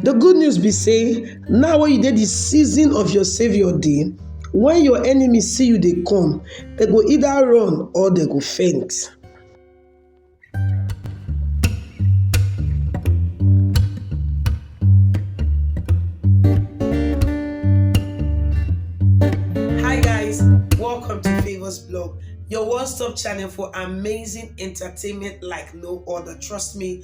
The good news be say now wey you dey the season of your saviour day, when your enemy see you dey come, they go either run or they go faint. Hi guys, welcome to Favors Blog, your one-stop channel for amazing entertainment like no other. Trust me,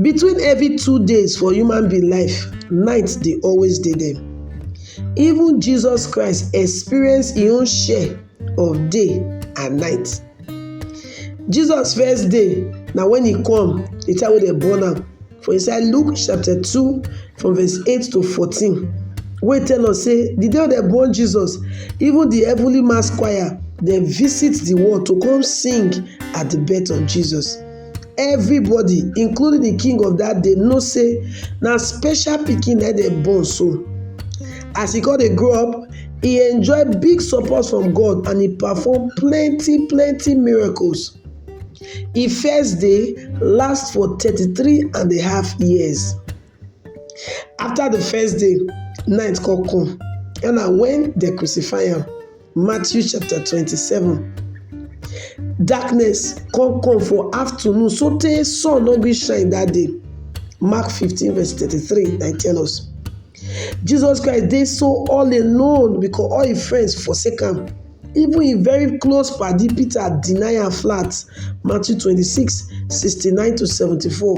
Between every two days for human being life, night dey always dey there. Even Jesus Christ experience im own share of day and night. Jesus first day na when he come, the time wey dem born am for inside Luke chapter two from verse eight to fourteen wey tell us say the day wey dem born Jesus, even the heavenly mass choir dem visit the world to come sing at the birth of Jesus. Everybody including the king of that day know say na special pikin na dem born so. As he come dey grow up, he enjoy big support from God and he perform plenty plenty miracles. He first day last for thirty three and a half years. After the first day, night come come, and na when they crucify am. Matthew chapter 27. Darkness come come for afternoon, so tey sun no gree shine that day. Mark 15, verse 33, I tell us. Jesus Christ dey so all alone because all his friends forsake am. even im very close padi peter deny am flat Matthew twenty six sixty nine to seventy four.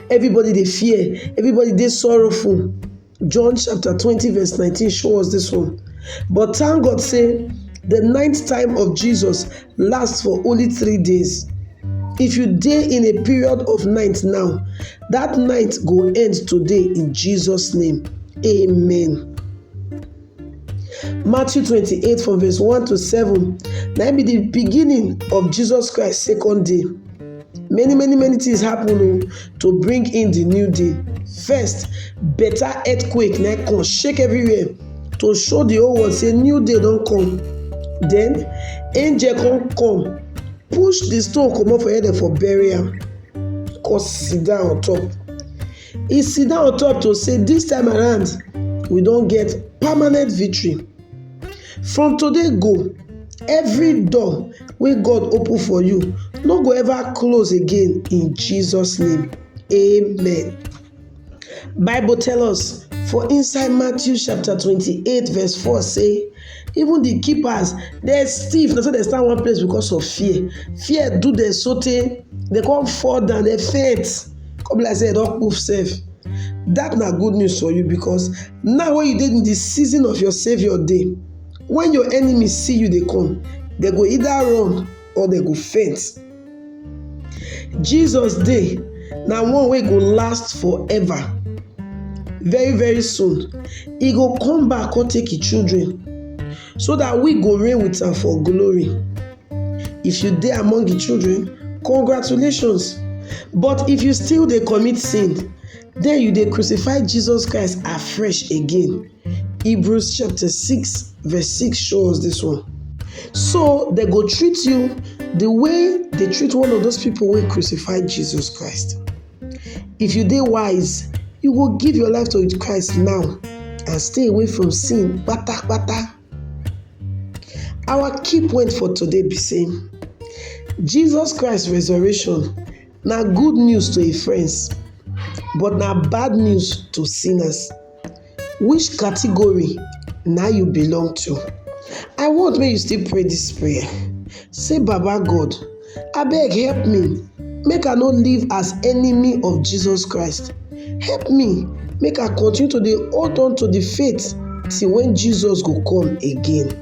Everybody dey fear, everybody dey sorrowful. John chapter twenty verse nineteen show us this one. But thank God say the ninth time of Jesus last for only three days. If you dey in a period of night now, that night go end today in Jesus name. Amen. Matthew 28 from verse 1 to 7 na be the beginning of Jesus Christ second day. Many many many things happen o oh, to bring in the new day. First, better earthquake na come shake everywhere to show the whole world say new day don come. Then angel come come push the stone comot for head for burial. am come sit down on top. He sit down on top to say this time around we don get permanent victory. From today go, every door wey God open for you no go ever close again in Jesus name. Amen. Bible tell us for inside Matthew chapter 28 verse 4 say Even the keepers dem stiff na so dem stand one place because of fear. Fear do dem so tey dem come fall down dem faint come be like say dem don kpuf sef. That na good news for you because now wey you dey in the season of your saviour dey when your enemy see you dey come dem go either run or dem go faint. Jesus dey na one wey go last forever. Very very soon, e go come back come take im children so that we go reign with am for glory. If you dey among the children, congratulations. But if you still dey commit sin, then you dey crucify Jesus Christ afresh again. Hebrews chapter 6, verse 6 shows this one. So they go treat you the way they treat one of those people who crucified Jesus Christ. If you dey wise, you go give your life to Christ now and stay away from sin kpata kpata. Our key point for today be saying Jesus Christ resurrection Na good news to im friends, but na bad news to sinners. Which category na you belong to? I want make you still pray this prayer. Say, Baba God, abeg help me make I no live as enemy of Jesus Christ. Help me make I continue to dey hold on to the faith till when Jesus go come again.